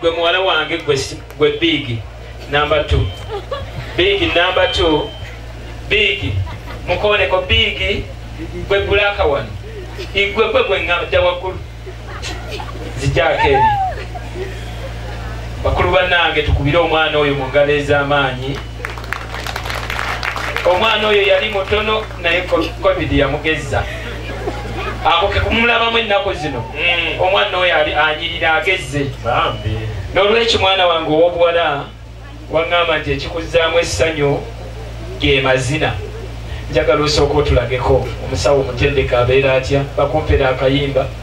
gwe muwala wange gwe biigi namba t biigi namba t biigi mukooneko biigi gwe gulaaka wano igwe gwe gwe ngabda waggulu zijaako eri bakulu bannange tukubire omwana oyo mu ngalo ez'amaanyi omwana oyo yali mutono naye covid yamugezza ako kekumulabamu ennaku zino hmm. omwana oyo ali anyirira agezze n'olwekyo mwana wange ow'obuwala waŋŋamba nti ekikuzzaamu essanyu ge mazina njagala osooka otulageko omusawo omutendeka abeera atya bakumpera akayimba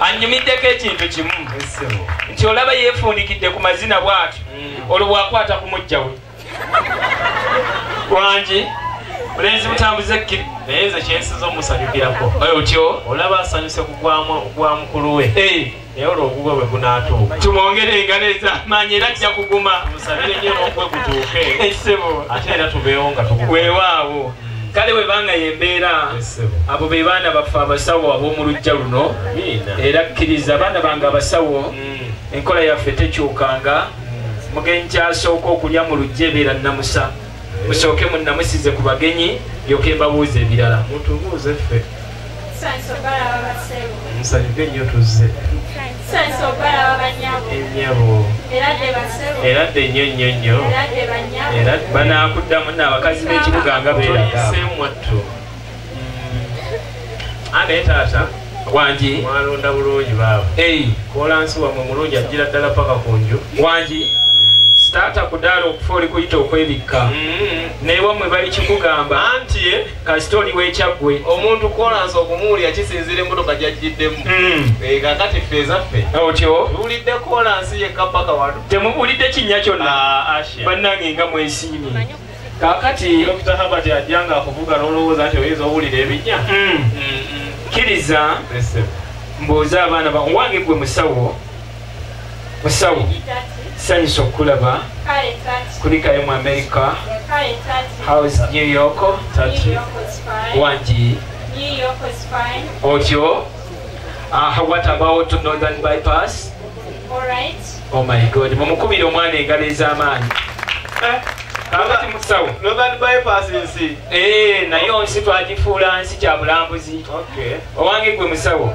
anyumiddeko ekintu kimu nti olaba yeefundikidde ku mazina bwati mm. olwo bwakwata ku mujja we wangi bulenzi butambuza ekkiri naye nze kyensinza omusanyukirako otyo olaba asanyuse kugwa mukulu we eh. naye olwo ogugwe bwe gunaatuuka tumwongere engalo ezamaanyi era ajja kuguma musabire nyo n'ogwe gutuuke ate era tubeewo nga tuweewaawo kale webanga yembeera abo be baana baffe abasawo ab'omulujja luno era kkiriza abaana bange abasawo mm. enkola yaffe tekyukanga mm. mugenyi kyasooka okulya mu lujja ebeera nnamusa eh. musooke munnamusize ku bagenyi yoke mbabuuza ebirala mutubuuze ffe nsanyuke nnyo tuzze ennyabo era dde nnyo nnyo nnyo era banaakuddamu naabakazi b'ekibuga nga beeragaseemwattu mm. anaye taata wangi mwalonda bulungi baaba kolansi wamwe mulungi ajjira ddala paka ku nju wangi taata kudaala okufa oli kuyita okwebikka mm-hmm. naye wamwe bali kikugamba anti kasita oli wekyaggwe omuntu kolansi okumuwulira kisinzira emmotoka gyajjiddemu hmm. eh, kakati ffe ezaffe otyo tuwulidde kolansi yekka paka wano temuwulidde kinnya kyonna ah, bannange nga mwesiimi kakati dokita habert ajja nga akuvuga nolowooza nti oyinza owulira ebinnya hmm. hmm, kkiriza mbuuza abaana bawange gwe musawo musawo sanyusa okukulaba kulikayo mu amerika house new york wangi otyo ah, what about northern bypass oh my god mumukubira omwana engalo ez'amaanyi eh? kakati musawo northern bypass nsi eh, naye onsi twagifuula nsi kya bulambuzi owange gwe musawo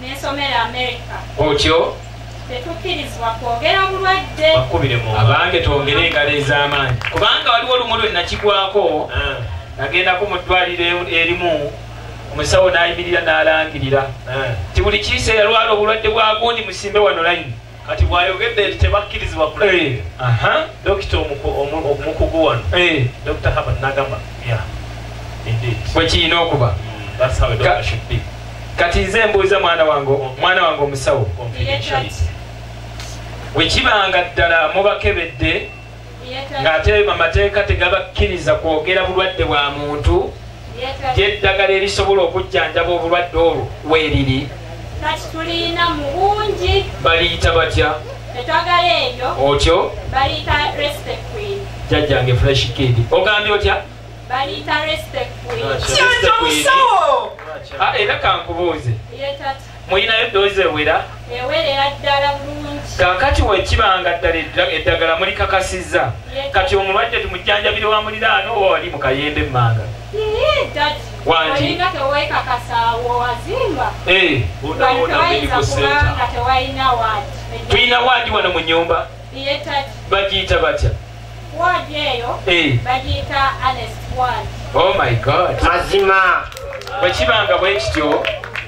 nensomera amerika otyo tetukkirizibwa kwogera bulwadde abange twongere engalo ez'amaanyi kubanga waliwo olumu lwe nakigwako ah. nagendako mu ddwaliro erimu omusawo n'ayimirira n'alangirira ah. nti buli kiiseera lwala obulwadde bwagundi musimbe wano layini kati bwayogedde nti tebakkirizibwa kulaba eh, dokita omukugu wano eh. dr haban nagamba bwekiyina okuba mm, kati nze mbuuza mwana wange mwana wange omusawo bwekibanga ddala mubakebedde ng'ate amateeka tegabakkiriza kwogera bulwadde bwa muntu gyeddagala erisobola okujjanjaba obulwadde olwo weeriri kati tulina mu bungi baliyita batya etwagala eyo otyo baliyita respectqueen jajjange fresh kid ogambye otya baliyita respectqueen era kankubuuze mulinayo eddoozi ewera ewerera ddala bulungi kakati wekiba nga ddala eddagala mulikakasizza kati omulwadde tumujjanjabire wa muliraano oba wali mu kayembe emmanga tulina waadi wano mu nyumba bagiyita batya oh my god mazima bwekibanga bwekityo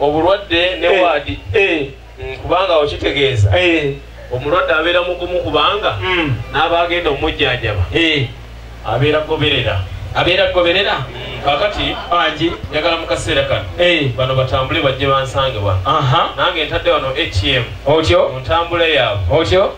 obulwadde ne eh, waadi eh. mm, kubanga okitegeeza eh. omulwadde abeera mugumu kubanga mm. n'abaagenda omujjanjaba abeera goberera abeera goberera mm, kakati angi njagala mu kaseera kano bano batambule bajje bansange wano nange ntadde wano atm otyo mu ntambula yaabwe otyo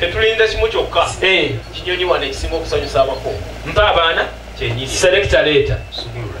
tetulinda kimu kyokka eh. kinyonyi wano ekisinga okusanyusa abako mpa abaana kyenyini selekta leeta subulula